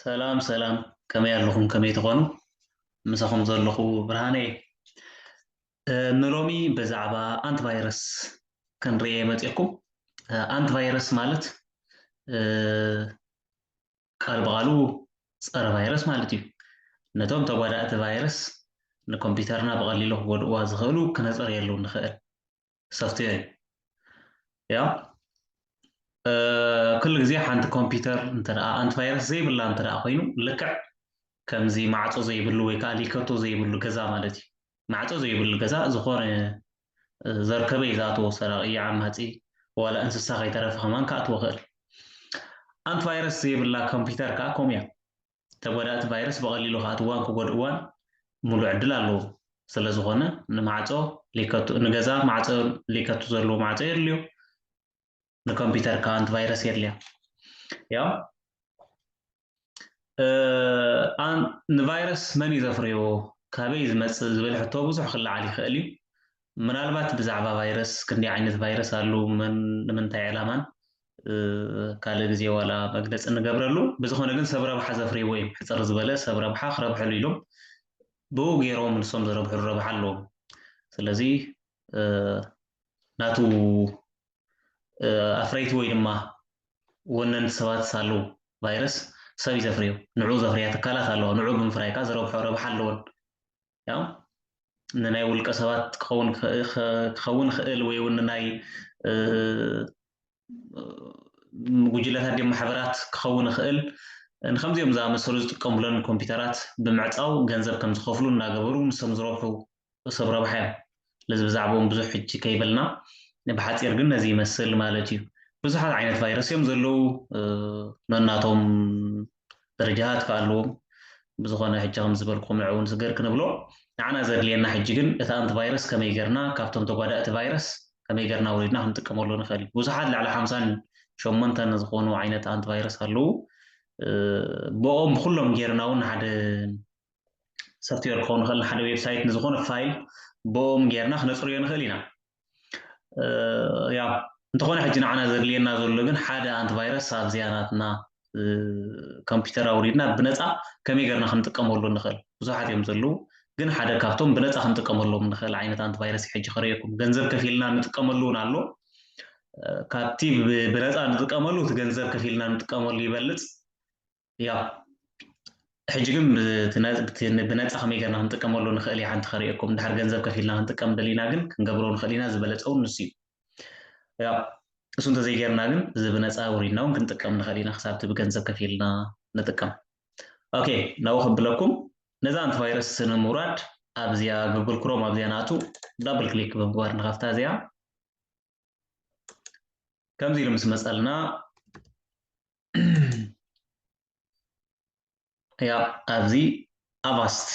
ሰላም ሰላም ከመይ ኣለኹም ከመይ ትኾኑ ምሳኹም ዘለኹ ብርሃነ እየ ንሎሚ ብዛዕባ ኣንቲቫይረስ ክንርኤ መፅኩም ኣንቲቫይረስ ማለት ቃል ብቃሉ ፀረ ቫይረስ ማለት እዩ ነቶም ተጓዳእቲ ቫይረስ ንኮምፒውተርና ብቐሊሉ ክጎድእዋ ዝኽእሉ ክነፅርየሉ ንኽእል ሶፍትዌር እዩ ያው ኩሉ ግዜ ሓንቲ ኮምፒውተር እንተ ኣንቲቫይረስ ዘይብላ እንተ ኮይኑ ልክዕ ከምዚ ማዕፆ ዘይብሉ ወይ ከዓ ሊከቶ ዘይብሉ ገዛ ማለት እዩ ማዕፆ ዘይብሉ ገዛ ዝኾነ ዘርከበ እዩ ዝኣትዎ ሰራቂ ዓማፂ ዋላ እንስሳ ከይተረፈ ከማን ክኣትዎ ክእል ኣንቲቫይረስ ዘይብላ ኮምፒውተር ከዓ ከምኡ እያ ተጓዳእቲ ቫይረስ ብቐሊሉ ክኣትውዋን ክጎድእዋን ሙሉእ ዕድል ኣለዎም። ስለዝኾነ ንማዕጾ ሊከቱ፣ ንገዛ ማዕጾ ሊከቱ ዘለዎ ማዕጾ የድልዮ። ንኮምፒተር ከኣ ኣንቲ ቫይረስ የድልያ። ያው ንቫይረስ መን እዩ ዘፍርዮ፣ ካበይ ዝመጽእ ዝብል ሕቶ ብዙሕ ክለዓል ይኽእል እዩ። ምናልባት ብዛዕባ ቫይረስ ክንደይ ዓይነት ቫይረስ ኣሉ መን ንምንታይ ዕላማን ካልእ ግዜ ዋላ መግለፂ ንገብረሉ ብዝኾነ ግን ሰብ ረብሓ ዘፍርይዎ እዮም ሕፅር ዝበለ ሰብ ረብሓ ክረብሐሉ ኢሎም ብኡ ገይሮም ንሶም ዘረብሕሉ ረብሓ ኣለዎም ስለዚ ናቱ ኣፍረይቲ ወይ ድማ ወነንቲ ሰባት ሳሉ ቫይረስ ሰብ እዩ ዘፍርዮ ንዑ ዘፍርያ ትካላት ኣለዋ ንዑ ብምፍራይ ከዓ ዝረብሖ ረብሓ ኣለዎን ያው ንናይ ውልቀ ሰባት ክኸውን ክኸውን ይኽእል ወይ እውን ንናይ ጉጅለታት ድም ማሕበራት ክኸውን ይኽእል ንከምዚኦም ዝኣመሰሉ ዝጥቀሙለን ኮምፒውተራት ብምዕፃው ገንዘብ ከም ዝኸፍሉ እናገበሩ ንሶም ዝረብሑ ሰብ ረብሓ እዮም ስለዚ ብዛዕብኦም ብዙሕ ሕጂ ከይበልና ብሓጺር ግን ነዚ ይመስል ማለት እዩ። ብዙሓት ዓይነት ቫይረስ እዮም ዘለዉ ነናቶም ደረጃታት ከኣ ኣለዎም ብዝኾነ ሕጂ ከም ዝበልኩም ንዕ እውን ስገር ክንብሎ ንዓና ዘድልየና ሕጂ ግን እቲ ኣንቲ ቫይረስ ከመይ ገርና ካብቶም ተጓዳእቲ ቫይረስ ከመይ ገርና ወሪድና ክንጥቀመሉ ንኽእል እዩ ብዙሓት ልዕሊ ሓምሳን ሸሞንተን ዝኾኑ ዓይነት ኣንቲ ቫይረስ ኣለዉ ብኦም ብኩሎም ጌርና እውን ሓደ ሶፍትዌር ክኸውን ይኽእል ንሓደ ዌብሳይት ንዝኾነ ፋይል ብኦም ጌርና ክነፅርዮ ንኽእል ኢና ያው እንተኾነ ሕጂ ንዓና ዘድልየና ዘሎ ግን ሓደ ኣንቲቫይረስ ኣብዚኣ ናትና ኮምፒውተር ኣውሪድና ብነፃ ከመይ ገርና ክንጥቀመሉ ንኽእል ብዙሓት እዮም ዘለዉ ግን ሓደ ካብቶም ብነፃ ክንጥቀመሎም ንኽእል ዓይነት ኣንቲቫይረስ እዩ ሕጂ ክረየኩም ገንዘብ ከፊልና ንጥቀመሉ እውን ኣሎ ካብቲ ብነፃ ንጥቀመሉ እቲ ገንዘብ ከፊልና ንጥቀመሉ ይበልፅ ያፕ ሕጂ ግን ብነፃ ከመይ ገርና ክንጥቀመሉ ንክእል ኢና ሓንቲ ከርእየኩም እንድሕር ገንዘብ ከፊልና ክንጥቀም ደሊና ግን ክንገብሮ ንክእል ኢና ዝበለፀ እውን ንሱ እዩ ያ እሱ እንተዘይገርና ግን እዚ ብነፃ ውሪድና እውን ክንጥቀም ንክእል ኢና ክሳብቲ ብገንዘብ ከፊልና ንጥቀም ኦኬ ናብኡ ከብለኩም ነዛ ኣንቲ ቫይረስ ንምውራድ ኣብዚኣ ጉግል ክሮም ኣብዚኣ ንኣቱ ዳብል ክሊክ ብምግባር ንኸፍታ እዚኣ ከምዚ ኢሉ ምስ መፀልና ያ ኣብዚ ኣቫስት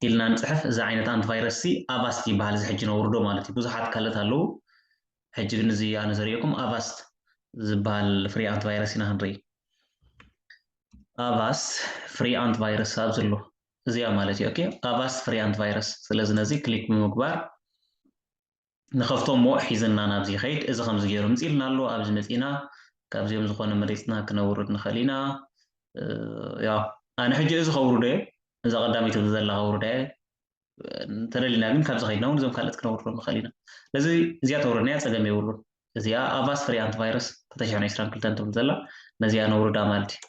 ኢልና ንፅሕፍ እዚ ዓይነት ኣንቲቫይረስ ሲ ኣቫስት ይበሃል እዚ ሕጂ ነውርዶ ማለት እዩ ብዙሓት ካልኦት ኣለዉ ሕጂ ግን እዚ ኣነ ዘሪኦኩም ኣቫስት ዝበሃል ፍሪ ኣንቲቫይረስ ኢና ክንርኢ ኣቫስት ፍሪ ኣንቲቫይረስ ኣብ ዘሎ እዚኣ ማለት እዩ ኦኬ ኣቫስት ፍሪ ኣንቲቫይረስ ስለዚ ነዚ ክሊክ ብምግባር ንከፍቶ እሞ ሒዝና ናብዚ ይከይድ እዚ ከምዚ ገይሩ ምጺልና ኣሎ ኣብዚ መጺና ካብዚኦም ዝኮነ መሪጽና ክነውርድ ንክእል ኢና ያው ኣነ ሕጂ እዚ ከውርዶ እየ እዛ ቀዳመይቲ ኣብዚ ዘላ ከውርዳ እየ እንተደሊና ግን ካብዚ ከይድና እውን እዞም ካልኦት ክነውርዶም ንክእል ኢና ስለዚ እዚኣ ተውረድናያ ጸገም የብሉን እዚኣ ኣቫስ ፍሪ ኣንቲ ቫይረስ ተተሽሐን ዕስራን ክልተን ትብል ዘላ ነዚኣ ነውርዳ ማለት እዩ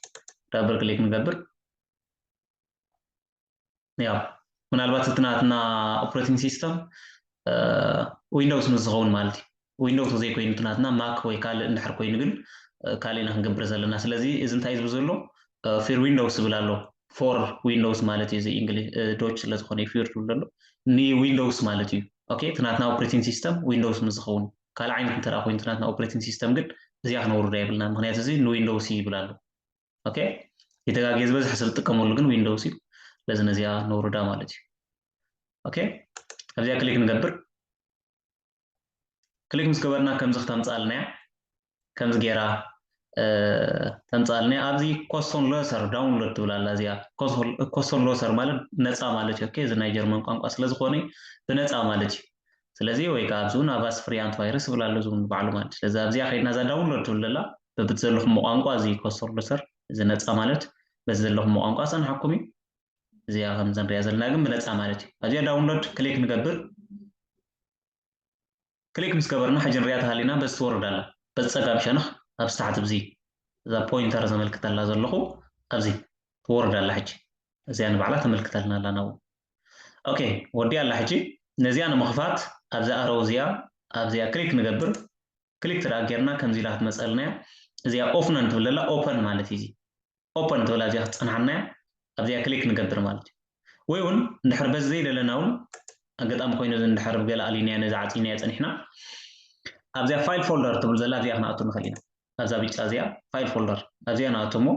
ዳብል ክሊክ ንገብር ያው ምናልባት እቲ ናትና ኦፕሬቲንግ ሲስተም ዊንዶውስ ምስ ዝኸውን ማለት እዩ ዊንዶውስ ዘይኮይኑ እቲ ናትና ማክ ወይ ካልእ እንድሕር ኮይኑ ግን ካልእ ኢና ክንገብር ዘለና ስለዚ እዚ እንታይ ዝብል ዘሎ ፊር ዊንዶውስ ዝብል ኣሎ ፎር ዊንዶውስ ማለት እዩ እዚ እንግሊ ዶች ስለ ዝኾነ እዩ ፊር ዝብል ዘሎ ንዊንዶውስ ማለት እዩ ኦኬ እቲ ናትና ኦፕሬቲንግ ሲስተም ዊንዶውስ ምስ ዝኸውን ካልእ ዓይነት እንተ ኮይኑ እቲ ናትና ኦፕሬቲንግ ሲስተም ግን እዚኣ ክነውርዳ የብልና ምክንያቱ እዚ ንዊንዶውስ ይብል ኣሎ ኦኬ ይተጋግየ ዝበዝሐ ሰብ ዝጥቀመሉ ግን ዊንዶውስ እዩ ስለዚ ነዚኣ ነውርዳ ማለት እዩ ኦኬ ኣብዚኣ ክሊክ ንገብር ክሊክ ምስ ገበርና ከምዚ ክተምፅኣልና እያ ከምዚ ገይራ ተምፅኣልና ኣብዚ ኮስቶን ሎሰር ዳውንሎድ ትብል ኣላ እዚኣ ኮስቶን ሎሰር ማለት ነፃ ማለት እዩ ኦኬ እዚ ናይ ጀርመን ቋንቋ ስለዝኾነ ብነፃ ማለት እዩ ስለዚ ወይ ከዓ ኣብዚ እውን ኣቫስ ፍሪ ኣንቲቫይረስ ይብል ኣሎ እዚ እውን ባዕሉ ማለት እዩ ስለዚ ኣብዚኣ ከይድና እዛ ዳውንሎድ ትብል ዘላ በብቲ ዘለኹሞ ቋንቋ እዚ ኮስተር ሎሰር እዚ ነጻ ማለት በቲ ዘለኹሞ ቋንቋ ክጸንሓኩም እዩ እዚኣ ከምዚ ንሪኣ ዘለና ግን ብነጻ ማለት እዩ ኣብዚኣ ዳውንሎድ ክሊክ ንገብር ክሊክ ምስ ገበርና ሕጂ ንሪኣ ተሃሊና በዚ ትወርድ ኣላ በዚ ጸጋም ሸነኽ ኣብዚ ታሕቲ ብዚ እዛ ፖይንተር ዘመልክተላ ዘለኹ ኣብዚ ትወርድ ኣላ ሕጂ እዚኣ ንባዕላ ተመልክተልና ኣላ ናብኡ ኦኬ ወዲኣ ኣላ ሕጂ ነዚኣ ንምኽፋት ኣብዛ ኣረው እዚኣ ኣብዚኣ ክሊክ ንገብር ክሊክ ትድኣ ጌርና ከምዚ ኢላ ክትመጸልና እያ እዚኣ ኦፍነን ትብል ዘላ ኦፐን ማለት እዩ እዚ ኦፐን ትብላ እዚኣ ክትጸንሓና እያ ኣብዚኣ ክሊክ ንገብር ማለት እዩ ወይ እውን እንድሕር በዚ ዘይደለና እውን ኣጋጣሚ ኮይኑ እዚ እንድሕር ብገለ ኣሊንያ ነዚ ዓጺናዮ ጸኒሕና ኣብዚኣ ፋይል ፎልደር ትብል ዘላ ኣብዚኣ ክንኣቱ ንኽእል ኢና ኣብዛ ብጫ እዚኣ ፋይል ፎልደር ኣብዚኣ ንኣቱ እሞ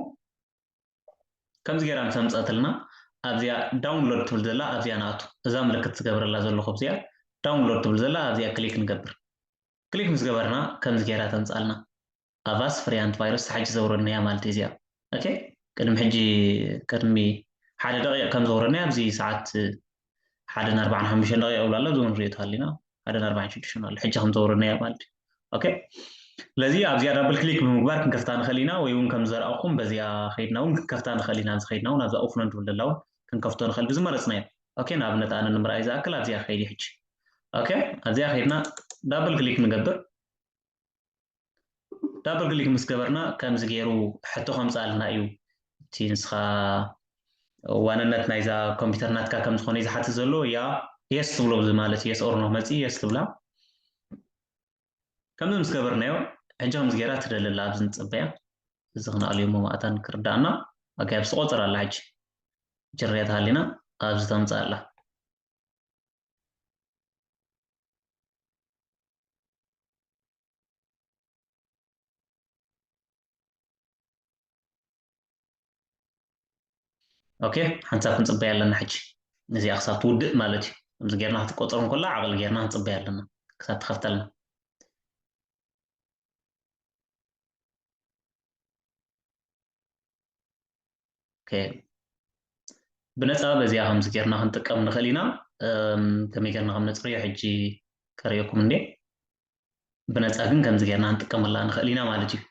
ከምዚ ጌራ ምስ ኣምፀእትልና ኣብዚኣ ዳውንሎድ ትብል ዘላ ኣብዚኣ ንኣቱ እዛ ምልክት ዝገብረላ ዘለኹ ኣብዚኣ ዳውንሎድ ትብል ዘላ ኣብዚኣ ክሊክ ንገብር ክሊክ ምስ ገበርና ከምዚ ጌራ ተምጻልና ኣቫስ ፍሪ ኣንቲ ቫይረስ ሓጂ ዘውረድናያ ማለት ኢዩ እዚኣ ኦኬ ቅድሚ ሕጂ ቅድሚ ሓደ ደቂቅ ከም ዘውረድናያ ኣብዚ ሰዓት ሓደን ኣርባዓን ሓሙሽተን ደቂቅ ይብሉ ኣሎ እዚ ንሪኦ ተሃሊና ሓደን ኣርባዓን ሽዱሽተን ኣሎ ሕጂ ከም ዘውረድናያ ማለት ኢዩ ኦኬ ስለዚ ኣብዚኣ ዳብል ክሊክ ብምግባር ክንከፍታ ንኽእል ኢና ወይ እውን ከም ዘርኣኹም በዚኣ ከይድና እውን ክንከፍታ ንኽእል ኢና ኣብዚ ከይድና እውን ኣብዛ ኦፍኖን ትብል ዘላ እውን ክንከፍቶ ንኽእል ብዝመረፅናዮ ኦኬ ንኣብነት ኣነ ንምርኣይ ዝኣክል ኣብዚኣ ከይዲ ሕጂ ኦኬ ኣብዚኣ ከይድና ዳብል ክሊክ ንገብር ዳብል ክሊክ ምስ ገበርና ከምዚ ገይሩ ሕቶ ከምፅኣልና እዩ እቲ ንስኻ ዋንነት ናይዛ ኮምፒውተር ናትካ ከም ዝኾነ እዩ ዝሓትት ዘሎ ያ የስ ትብሎ ብዚ ማለት የስ ኦርኖ መፂ የስ ትብላ ከምዚ ምስ ገበርናዮ ሕጂ ከምዚ ገይራ ትደለላ ኣብዚ ንፅበያ እዚ ክንኣልዮ መማእታ ንክርዳእና ኣጋይ ብስቆፅር ኣላ ሕጂ ጅርያ ተሃሊና ኣብዚ ተምፅእ ኣላ ኦኬ ሓንሳብ ክንፅበያ ኣለና ሕጂ ነዚኣ ክሳብ ትውድእ ማለት እዩ ከምዚ ጌርና ክትቆፅሮ እንከላ ዓቐል ጌርና ክንፅበያ ኣለና ክሳብ ትኸፍተልና ኦኬ ብነፃ በዚኣ ከምዚ ጌርና ክንጥቀም ንኽእል ኢና ከመይ ጌርና ከም ነፅርዮ ሕጂ ከርእየኩም እንዴ ብነፃ ግን ከምዚ ጌርና ክንጥቀመላ ንኽእል ኢና ማለት እዩ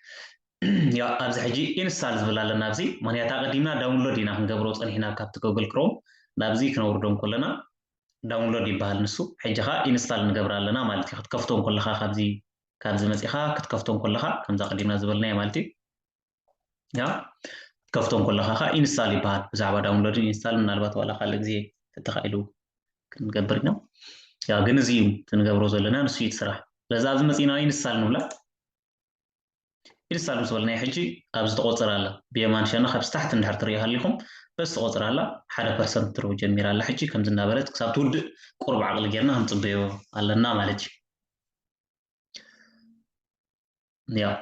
ያ ኣብዚ ሕጂ ኢንስታል ዝብል ኣለና ኣብዚ ምክንያት ኣቐዲምና ዳውንሎድ ኢና ክንገብሮ ፀኒሕና ካብቲ ጎግል ክሮም ናብዚ ክነውርዶ ከለና ዳውንሎድ ይበሃል ንሱ ሕጂ ከዓ ኢንስታል ንገብር ኣለና ማለት እዩ ክትከፍቶ ከለካ ካብዚ ካብዚ መፂኻ ክትከፍቶ ከለካ ከምዚ ኣቐዲምና ዝበልናዮ ማለት እዩ ከፍቶም ኮለኻ ከዓ ኢንስታል ይበሃል ብዛዕባ ዳውንሎድን ኢንስታል ምናልባት ዋላ ካልእ ግዜ ተተኻኢሉ ክንገብር ኢና ያ ግን እዚ እዩ ትንገብሮ ዘለና ንሱ እዩ ስራሕ ስለዚ ኣብዚ መፂና ኢንስታል ንብላ ኢንስታል ምስ በልናዮ ሕጂ ኣብዚ ተቆፅር ኣላ ብየማን ሸነኽ ኣብ ስታሕቲ እንድሕር ትሪኦ ሃሊኹም በዚ ተቆፅር ኣላ ሓደ ፐርሰንት ትርቡ ጀሚራ ኣላ ሕጂ ከምዚ እናበለት ክሳብ ትውድእ ቁርብ ዓቕሊ ጌርና ክንፅበዮ ኣለና ማለት እዩ ያው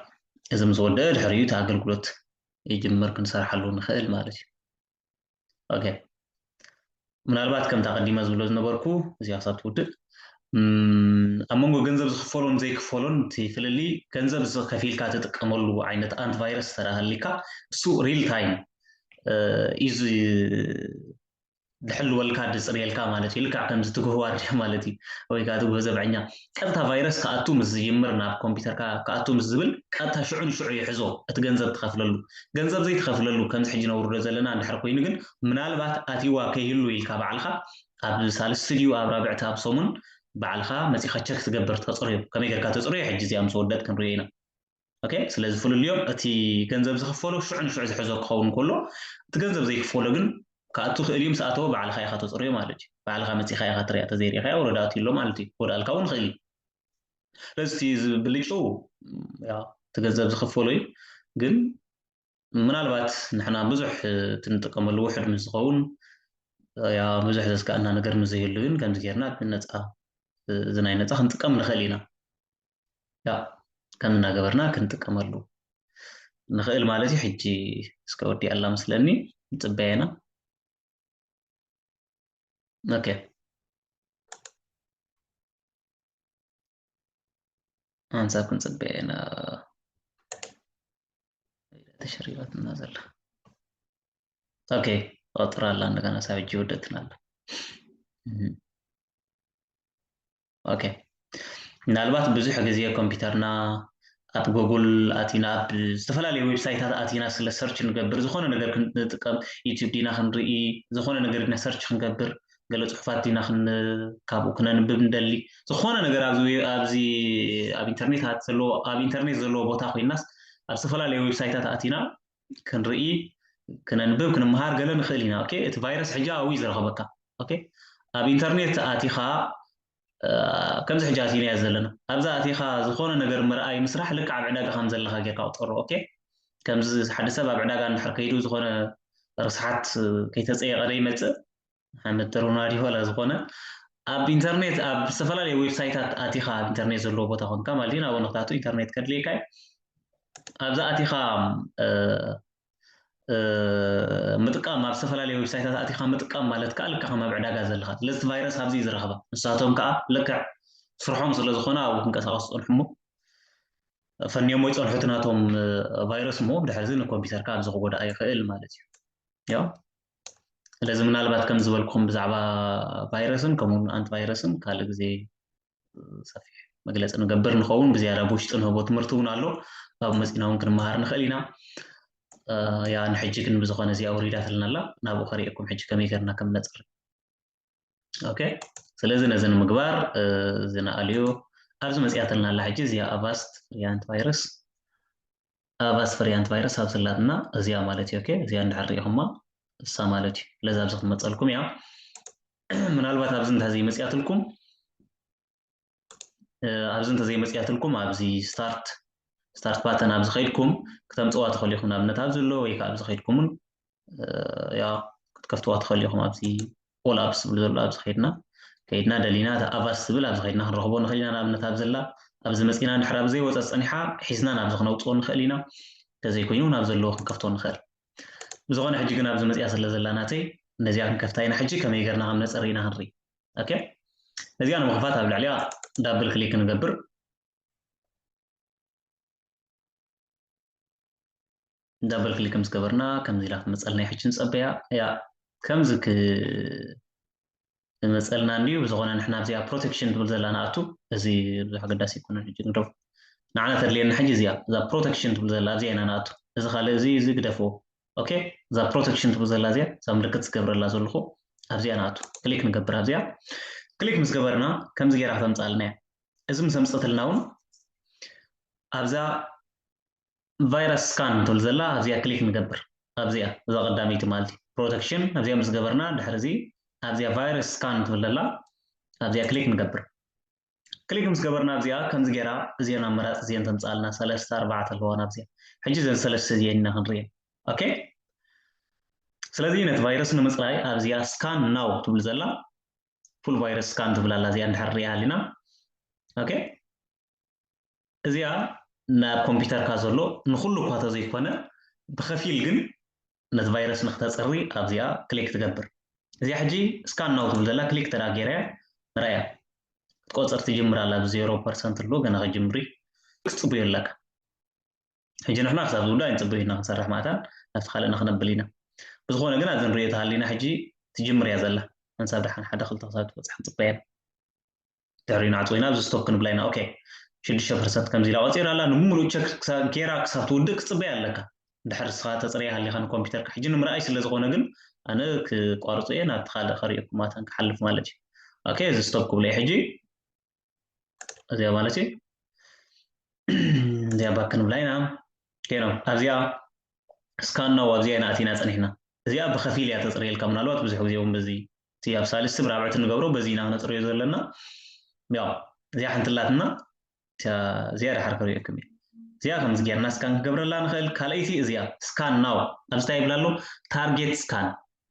እዚ ምስ ወደአ ድሕሪኡ እቲ ኣገልግሎት ይጅምር ክንሰርሓሉ ንኽእል ማለት እዩ ኦኬ ምናልባት ከምታ ቀዲመ ዝብሎ ዝነበርኩ እዚኣ ክሳብ ትውድእ ኣብ መንጎ ገንዘብ ዝክፈሎን ዘይክፈሎን እቲ ፍልሊ ገንዘብ ከፊልካ ትጥቀመሉ ዓይነት ኣንቲ ቫይረስ ተረሃሊካ እሱ ሪል ታይም እዩ ድሕልወልካ ድጽርየልካ ማለት እዩ ልክዕ ከምዚ ትግህዋ ኣድልያ ማለት እዩ ወይ ከኣ ትግሆ ዘብዐኛ ቀጥታ ቫይረስ ክኣቱ ምስ ዝጅምር ናብ ኮምፒተርካ ክኣቱ ምስ ዝብል ቀጥታ ሽዑ ንሽዑ ይሕዞ እቲ ገንዘብ ትኸፍለሉ ገንዘብ ዘይትኸፍለሉ ከምዚ ሕጂ ነውርዶ ዘለና እንድሕር ኮይኑ ግን ምናልባት ኣትይዋ ከይህሉ ኢልካ ባዕልኻ ኣብ ሳልስቲ ድዩ ኣብ ራብዕቲ ኣብ ሰሙን ባዕልኻ መጺኻ ቸክ ትገብር ተጽርዮ ከመይ ጌርካ ተጽርዮ ሕጂ እዚኣ ምስ ወደት ክንሪኦ ኢና ኦኬ ስለዚ ፍልልዮም እቲ ገንዘብ ዝኽፈሎ ሽዑ ንሽዑ ዝሕዞ ክኸውን ከሎ እቲ ገንዘብ ዘይክፈሎ ግን ክኣቱ ይኽእል እዩ ምስ ኣተወ ባዕልኻ ኢኻ ተፅርዮ ማለት እዩ ባዕልኻ መፂኻ ኢኻ ትሪኣ ተዘይሪእኻያ ወረዳ ኣትዩ ኣሎ ማለት እዩ ክወድኣልካ እውን ይኽእል እዩ ስለዚ እቲ ብልጭኡ እቲ ገንዘብ ዝኽፈሎ እዩ ግን ምናልባት ንሕና ብዙሕ ትንጥቀመሉ ውሕድ ምስ ዝኸውን ያ ብዙሕ ዘስጋእና ነገር ምስ ዘይህሉ ግን ከምዚ ጌርና ነፃ እዚ ናይ ነፃ ክንጥቀም ንኽእል ኢና ያእ ከም እናገበርና ክንጥቀመሉ ንኽእል ማለት እዩ ሕጂ እስከ ወዲኣላ መስለኒ ንጽበያ ኢና ኦኬ ኣንሳብ ክንጽበያ ኢና ተሸሪባትና ዘላ ኦኬ ኦጥራ ኣላ እንደገና ሳብ ሕጂ ወደትና ኣላ ኦኬ ምናልባት ብዙሕ ግዜ ኮምፒተርና ኣብ ጎጉል ኣቲና ኣብ ዝተፈላለዩ ዌብሳይታት ኣቲና ስለ ሰርች ንገብር ዝኾነ ነገር ክንጥቀም ዩቲብ ዲና ክንርኢ ዝኾነ ነገር ዲና ሰርች ክንገብር ገለ ፅሑፋት ዲና ካብኡ ክነንብብ ንደሊ ዝኾነ ነገር ኣብዚ ኣብ ኢንተርኔት ዘለዎ ኣብ ኢንተርኔት ዘለዎ ቦታ ኮይናስ ኣብ ዝተፈላለዩ ዌብሳይታት ኣቲና ክንርኢ ክነንብብ ክንምሃር ገለ ንኽእል ኢና ኦኬ እቲ ቫይረስ ሕጂ ኣብዩ ዝረኸበካ ኦኬ ኣብ ኢንተርኔት ኣቲኻ ከምዚ ሕጂ ኣቲናዮ ዘለና ኣብዛ ኣቲኻ ዝኾነ ነገር ምርኣይ ምስራሕ ልክዕ ኣብ ዕዳጋ ከም ዘለኻ ጌርካ ቁጠሮ ኦኬ ከምዚ ሓደ ሰብ ኣብ ዕዳጋ እንድሕር ከይዱ ዝኾነ ርስሓት ከይተፀየቐ ዘይመፅእ ንሓመድ ተርናዲ ዋላ ዝኾነ ኣብ ኢንተርኔት ኣብ ዝተፈላለየ ዌብሳይታት ኣቲኻ ኣብ ኢንተርኔት ዘለዎ ቦታ ኮንካ ማለት እዩ ናብ ንክታቱ ኢንተርኔት ከድልየካ እዩ ኣብዛ ኣቲኻ ምጥቃም ኣብ ዝተፈላለየ ዌብሳይታት ኣቲኻ ምጥቃም ማለት ከዓ ልክዕ ከም ኣብ ዕዳጋ ዘለካ ስለዚ እቲ ቫይረስ ኣብዚ እዩ ዝረኽባ ንሳቶም ከዓ ልክዕ ስርሖም ስለ ዝኾነ ኣብኡ ክንቀሳቀሱ ፀንሑሞ ፈንዮሞ ይፀንሑ እቲ ናቶም ቫይረስ እሞ ድሕርዚ ንኮምፒተርካ ኣብዚ ክጎዳእ ይኽእል ማለት እዩ ስለዚ ምናልባት ከም ዝበልኩም ብዛዕባ ቫይረስን ከምኡውን ኣንቲ ቫይረስን ካልእ ግዜ ሰፊሕ መግለፂ ንገብር ንኸውን ብዝያዳ ብውሽጢ ንህቦ ትምህርቲ እውን ኣሎ ካብ መፂና እውን ክንመሃር ንኽእል ኢና ያ ንሕጂ ግን ብዝኾነ እዚኣ ውሪዳትልና ኣላ ናብኡ ከሪኤኩም ሕጂ ከመይ ገርና ከም ነፅሪ ኦኬ ስለዚ ነዚ ንምግባር እዚ ንኣልዩ ኣብዚ መፅያተልና ኣላ ሕጂ እዚኣ ኣቫስት ፍሪያንት ቫይረስ ኣቫስት ፍሪያንት ቫይረስ ኣብ ስላትና እዚኣ ማለት እዩ ኦኬ እዚኣ እንድሕር ሪኢኹማ እሳ ማለት እዩ ስለዚ ኣብዚ ክመፀልኩም እያ ምናልባት ኣብዚ እንተዘይመፅያትልኩም ኣብዚ እንተዘይመፅያትልኩም ኣብዚ ስታርት ስታርት ባተን ኣብዚ ከይድኩም ክተምፅዋ ትኽእሉ ኢኹም ንኣብነት ኣብዚ ኣሎ ወይ ከዓ ኣብዚ ከይድኩም እውን ያ ክትከፍትዋ ትኽእሉ ኢኹም ኣብዚ ኦል ኣፕስ ዝብል ዘሎ ኣብዚ ከይድና ከይድና ደሊና እቲ ኣቫስ ዝብል ኣብዚ ከይድና ክንረኽቦ ንኽእል ኢና ንኣብነት ኣብ ዘላ ኣብዚ መፂና ድሕር ኣብ ዘይወፀ ፀኒሓ ሒዝና ናብዚ ክነውፅኦ ንኽእል ኢና እንተዘይኮይኑ ናብ ዘለዎ ክንከፍቶ ንኽእል ብዝኾነ ሕጂ ግን ኣብዚ መፅያ ስለ ዘላ ናተይ ነዚኣ ክንከፍታ ኢና ሕጂ ከመይ ገርና ከም ነፀሪ ኢና ክንርኢ ኦኬ እዚኣ ንምኽፋት ኣብ ልዕሊያ ዳብል ክሊክ ንገብር ዳብል ክሊክ ምስ ገበርና ከምዚ ኢላ ክመፀልና ይሕጂ ንፀበያ እያ ከምዚ ክመፀልና እንድዩ ብዝኾነ ንሕና ኣብዚኣ ፕሮቴክሽን ትብል ዘላ ንኣቱ እዚ ብዙሕ ኣገዳሲ ይኮነ ሕጂ ንግደፉ ንዓና ተድልየና ሕጂ እዚኣ እዛ ፕሮቴክሽን ትብል ዘላ ኣብዚኣ ኢና ንኣቱ እዚ ካልእ እዚ እዚ ግደፍዎ ኦኬ እዛ ፕሮቴክሽን ትብል ዘላ እዚኣ እዛ ምልክት ዝገብረላ ዘለኹ ኣብዚኣ ንኣቱ ክሊክ ንገብር ኣብዚኣ ክሊክ ምስ ገበርና ከምዚ ጌራ ክተምፅኣልና እያ እዚ ምስ ኣምፀትልና እውን ኣብዛ ቫይረስ ስካን ትብል ዘላ ኣብዚኣ ክሊክ ንገብር ኣብዚኣ እዛ ቀዳመይቲ ማለት እዩ ፕሮቴክሽን ኣብዚኣ ምስ ገበርና ድሕሪ እዚ ኣብዚኣ ቫይረስ ስካን ትብል ዘላ ኣብዚኣ ክሊክ ንገብር ክሊክ ምስ ገበርና ኣብዚኣ ከምዚ ጌራ እዚኤን ኣማራጺ እዚኤን ተምጻኣልና ሰለስተ ኣርባዕተ ኣለዋ ናብዚኣ ሕጂ ዘን ሰለስተ እዚኤን ኢና ክንሪኤን ኦኬ ስለዚ ነቲ ቫይረስ ንምጽራይ ኣብዚኣ ስካን ናው ትብል ዘላ ፉል ቫይረስ ስካን ትብል ኣላ እዚኣ እንድሕር ሪኣ ሃሊና ኦኬ እዚኣ ናይ ኣብ ኮምፒተርካ ዘሎ ንኹሉ እኳ ተዘይኮነ ብኸፊል ግን ነቲ ቫይረስ ንክተጽሪ ኣብዚኣ ክሊክ ትገብር እዚኣ ሕጂ ስካን ናው ትብል ዘላ ክሊክ ተዳ ጌረያ ንራያ ክትቆጽር ትጅምር ኣላ ብ ዜሮ ፐርሰንት ኣሎ ገና ክጅምሪ ክትጽብዮ ኣለካ ሕጂ ንሕና ክሳብ ዝውዳ ኣይንጽበዩ ኢና ክንሰርሕ ማእታን ናብቲ ካልእ ንክነብል ኢና ብዝኾነ ግን ኣብዚ ንሪኦ ተሃሊና ሕጂ ትጅምር እያ ዘላ ሓንሳብ ደሓን ሓደ ክልተ ክሳብ ትበጽሕ ክንጽበያ ኢና ደሪና ኣጥዊና ኣብዚ ስቶፕ ክንብላ ኢና ኦኬ ሽዱሽተ ፐርሰንት ከምዚ ኢላ ቆፂራ ኣላ ንምሉእ ቸክ ጌራ ክሳብ ትውድእ ክትፅበያ ኣለካ ድሕር ንስኻ ተፅርያ ሃሊኻ ንኮምፒተርካ ሕጂ ንምርኣይ ስለ ዝኾነ ግን ኣነ ክቋርፆ እየ ናብቲ ካልእ ከሪኦኩም ኣተን ክሓልፍ ማለት እዩ ኦኬ እዚ ስቶፕ ክብሎ እዩ ሕጂ እዚኣ ማለት እዩ እዚኣ ባክ ክንብላ ኢና ጌና ኣብዚኣ ስካናው ኣብዚኣ ኢና ኣቲና ፀኒሕና እዚኣ ብከፊል እያ ተፅርየልካ ምናልባት ብዙሕ ግዜ እውን በዚ እቲ ኣብ ሳልስቲ ብራብዕቲ ንገብሮ በዚ ኢና ክነፅርዮ ዘለና ያው እዚኣ ሓንትላትና እዚኣ ድሓር ክሪኦኩም እዩ እዚኣ ከምዚ ጌርና ስካን ክገብረላ ንኽእል ካልኣይቲ እዚኣ ስካን ናው ኣብዚ እንታይ ይብላ ኣሎ ታርጌት ስካን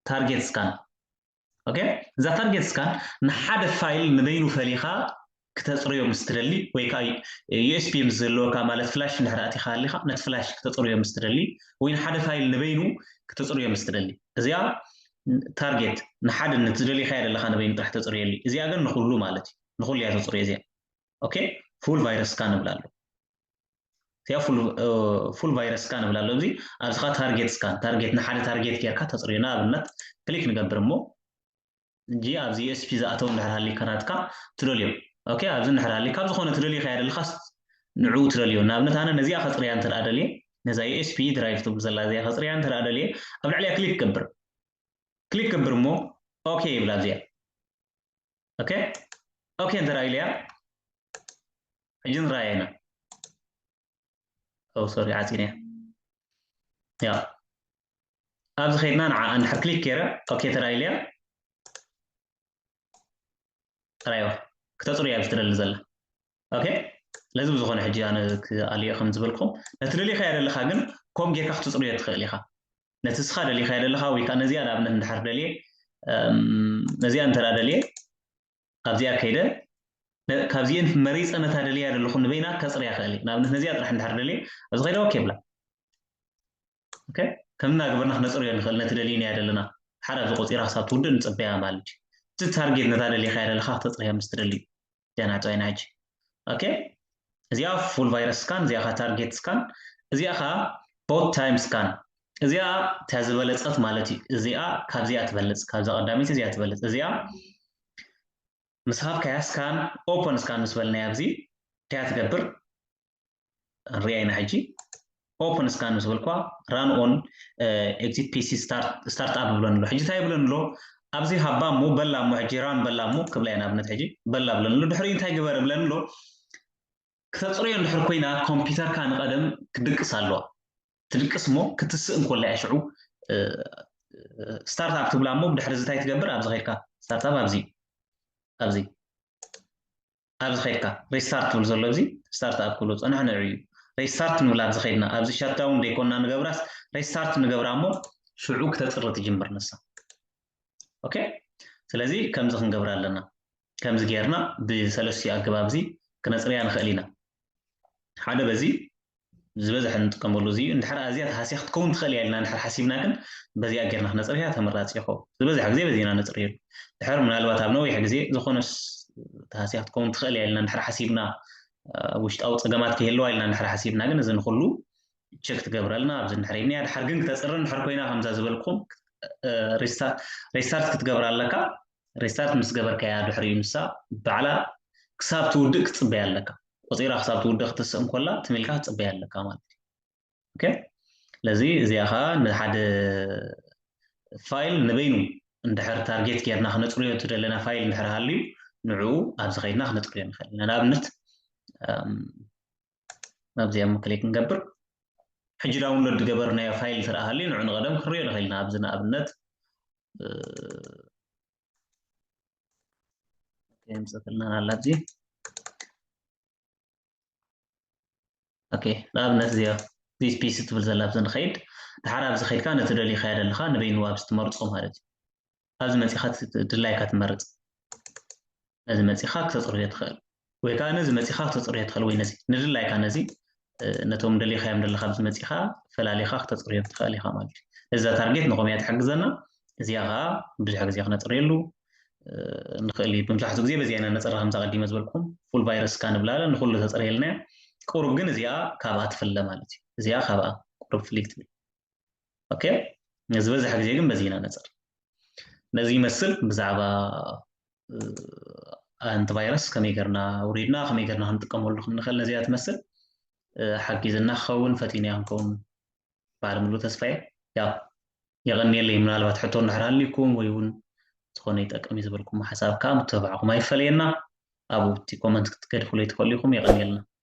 ታርጌት ስካን ኦኬ እዛ ታርጌት ስካን ንሓደ ፋይል ንበይኑ ፈሊኻ ክተጽርዮ ምስ ትደሊ ወይ ከኣ ዩኤስቢ ምስ ዝህልወካ ማለት ፍላሽ እንድሕር ኣእቲኻ ሃሊኻ ነቲ ፍላሽ ክተጽርዮ ምስ ትደሊ ወይ ንሓደ ፋይል ንበይኑ ክተጽርዮ ምስ ትደሊ እዚኣ ታርጌት ንሓደ ነቲ ዝደሊኻዮ ዘለኻ ንበይኑ ጥራሕ ተጽርየሉ እዚኣ ግን ንኹሉ ማለት እዩ ንኹሉ እያ ተጽርዮ እዚኣ ኦኬ ፉል ቫይረስ ስካን ንብላ ኣሎ እዚኣ ፉል ቫይረስ ስካን ንብላ ኣሎ እዚ ኣብዚ ኸ ታርጌት ስካን ታርጌት ንሓደ ታርጌት ጌርካ ተጽርዮ ንኣብነት ክሊክ ንገብር እሞ እንጂ ኣብዚ USP ዝኣተው እንድሕር ሃሊካ ናትካ ትደልዮ ኦኬ ኣብዚ እንድሕር ሃሊካ ኣብ ዝኾነ ትደልዮ ከይ ኣይደልኻስ ንዕኡ ትደልዮ ንኣብነት ኣነ ነዚኣ ከጽርያ እንተ ደልየ ነዛ USP ድራይቭ ትብል ዘላ እዚኣ ከጽርያ እንተ ደልየ ኣብ ልዕሊያ ክሊክ ገብር ክሊክ ገብር እሞ ኦኬ ይብል ኣብዚኣ ኦኬ ኦኬ እንተ ኢለያ ሕጂ ንራኣያ ኢና ኦው ሶሪ ዓጺነ እያ ያው ኣብዚ ከይድና ንዓ እንድሕር ክሊክ ገይረ ኦኬ ተዳኢለያ ጥራይዋ ክተፅሩ እያ ዝትደሊ ዘላ ኦኬ ስለዚ ብዝኾነ ሕጂ ኣነ ክኣልዮ ከም ዝበልኩም ነቲ ደሊኻዮ ደለኻ ግን ከምኡ ጌርካ ክትፅርዮ ትኽእል ኢኻ ነቲ እስኻ ደሊኻዮ ደለኻ ወይ ከዓ ነዚኣ ንኣብነት እንድሕር ደልየ ነዚኣ እንተ ደልየ ካብዚኣ ከይደ ካብዚኤን መሪፀ ነታ ደልያ ዘለኹ ንበይና ከፅርያ ክእል እዩ ንኣብነት ነዚኣ ጥራሕ እንድሕር ደልየ ኣብዚ ከይደ ኦኬ ብላ ኦኬ ከምና ገበርና ክነፅርዮ ንኽእል ነቲ ደልዩናዮ ዘለና ሓደ ኣብዚ ቆፂራ ክሳብ ትውድእ ንፅበያ ማለት እዩ እቲ ታርጌት ነታ ደሊኻያ ዘለኻ ክተፅርያ ምስ ትደሊ እዩ ደናጫይ ናጂ ኦኬ እዚኣ ፉል ቫይረስ ስካን እዚኣ ካ ታርጌት ስካን እዚኣ ካ ቦት ታይም ስካን እዚኣ እታ ዝበለፀት ማለት እዩ እዚኣ ካብዚኣ ትበልፅ ካብዛ ቀዳሚት እዚኣ ትበልፅ እዚኣ ምስ ሃብካያ ስካን ኦፐን ስካን ምስ በልናያ ኣብዚ ከያ ትገብር ንሪኣ ኢና ሕጂ ኦፕን ስካን ምስ በልኳ ራን ኦን ኤግዚት ፒሲ ስታርት ኣፕ ብለን ኣሎ ሕጂ እንታይ ብለን ኣሎ ኣብዚ ሃባ እሞ በላ እሞ ሕጂ ራን በላ እሞ ክብላ ኢና ኣብነት ሕጂ በላ ብለን ኣሎ ድሕሪ እንታይ ግበር ብለን ኣሎ ክተፅርዮ እንድሕር ኮይና ኮምፒውተርካ ንቐደም ክድቅስ ኣለዋ ትድቅስ እሞ ክትስእ እንኮላ እያ ሽዑ ስታርት ኣፕ ትብላ እሞ ብድሕሪ እዚ እንታይ ትገብር ኣብዚ ኸይድካ ስታርት ኣፕ ኣብዚ ኣብዚ ኣብዚ ከድካ ሪስታርት ትብል ዘሎ እዚ ስታርት ኣፕ ክብሎ ፀንሖ ንዕኡ እዩ ሪስታርት ንብላ ኣብዚ ከድና ኣብዚ ሻትዳውን ዘይኮንና ንገብራስ ሪስታርት ንገብራ እሞ ሽዑ ክተፅሪ ትጅምር ንሳ ኦኬ ስለዚ ከምዚ ክንገብር ኣለና ከምዚ ጌርና ብሰለስትኡ ኣገባብ እዚ ክነፅርያ ንኽእል ኢና ሓደ በዚ ዝበዝሐ እንጥቀመሉ እዚ እዩ። እንድሕር ኣዝያ ተሃስያ ክትከውን ትኽእል እያ ኢልና እንድሕር ሓሲብና ግን በዚኣ ጌርና ክነጽርያ ተመራጺ ይኸውን። ዝበዝሐ ግዜ በዚ ኢና እነጽርየሉ። ድሕር ምናልባት ኣብ ነዊሕ ግዜ ዝኾነስ ተሃስያ ክትከውን ትኽእል እያ ኢልና እንድሕር ሓሲብና ውሽጣዊ ጸገማት ከይህልዋ ኢልና እንድሕር ሓሲብና ግን እዚ ንኹሉ ቸክ ትገብረልና ኣብዚ እንድሕር ይብኒያ ድሓር ግን ክተጽሪ እንድሕር ኮይና ከምዛ ዝበልኩም ሬስታርት ክትገብር ኣለካ ሬስታርት ምስ ገበርካያ ድሕሪኡ ንሳ ባዕላ ክሳብ ትውድእ ክትጽበያ ኣለካ ቆጺራ ክሳብ ትውድእ ክትስእ እንኮላ ትም ኢልካ ክትጽበያ ኣለካ ማለት እዩ ኦኬ ስለዚ እዚኣ ከዓ ንሓደ ፋይል ንበይኑ እንድሕር ታርጌት ጌርና ክነጽርዮ እትደለና ፋይል እንድሕር ሃልዩ ንዕኡ ኣብዚ ከይድና ክነጽርዮ ንኽእል ኢና ንኣብነት ናብዚኣ ክሊክ ንገብር ሕጂ ዳውንሎድ ዝገበርናዮ ፋይል ስርኣ ሃልዩ ንዑ ንቐደም ክንሪኦ ንኽእል ኢና ኣብዚ ንኣብነት የምፅእልና ኣላ እዚ ኦኬ ንኣብነት እዚኣ ዚስ ፒስ ትብል ዘላ ብዚ ንኸይድ ድሓር ኣብዚ ከይድካ ነቲ ደልዩ ከያደ ኣለካ ንበይኑ ኣብዚ ትመርፆ ማለት እዩ ኣብዚ መፂኻ ድላይካ ትመርፅ ነዚ መፂኻ ክተፅርዮ ትኽእል ወይ ከኣ ነዚ መጺኻ ክተጽርዮ ትኽእል ወይ ነዚ ንድላይካ ነዚ ነቶም ደሊኻዮም ደለኻ ኣብዚ መጺኻ ፈላሊኻ ክተጽርዮ ትኽእል ኢኻ ማለት እዩ እዛ ታርጌት ንኾምያ ትሕግዘና እዚኣ ከዓ ብዙሕ ግዜ ክነፅርየሉ ንኽእል እዩ ብምዛሕትኡ ግዜ በዚኣ ኢና ነፅራ ከምዛ ቀዲመ ዝበልኩም ፉል ቫይረስ ካ ንብላ ንኩሉ ተፅርየልና እያ ቁሩብ ግን እዚኣ ካብኣ ትፍለ ማለት እዩ እዚኣ ካብኣ ቁሩብ ፍልይ ትብል ኦኬ ዝበዝሕ ግዜ ግን በዚ ኢና ነፅር ነዚ ይመስል ብዛዕባ ኣንቲ ቫይረስ ከመይ ገርና ውሪድና ከመይ ገርና ክንጥቀመሉ ክንኽእል ነዚኣ ትመስል ሓጊዝና ክኸውን ፈቲንያ ክንከውን በዓል ምሉ ተስፋየ ያ የቐኒየለይ ምናልባት ሕቶ እንድሕር ሃልዩኩም ወይ እውን ዝኾነ ይጠቅም እዩ ዝበልኩም ሓሳብ ከዓ ምትብባዕኩም ኣይፈለየና ኣብኡ እቲ ኮመንት ክትገድፉለይ ትኽእሉ ኢኹም የቐኒየልና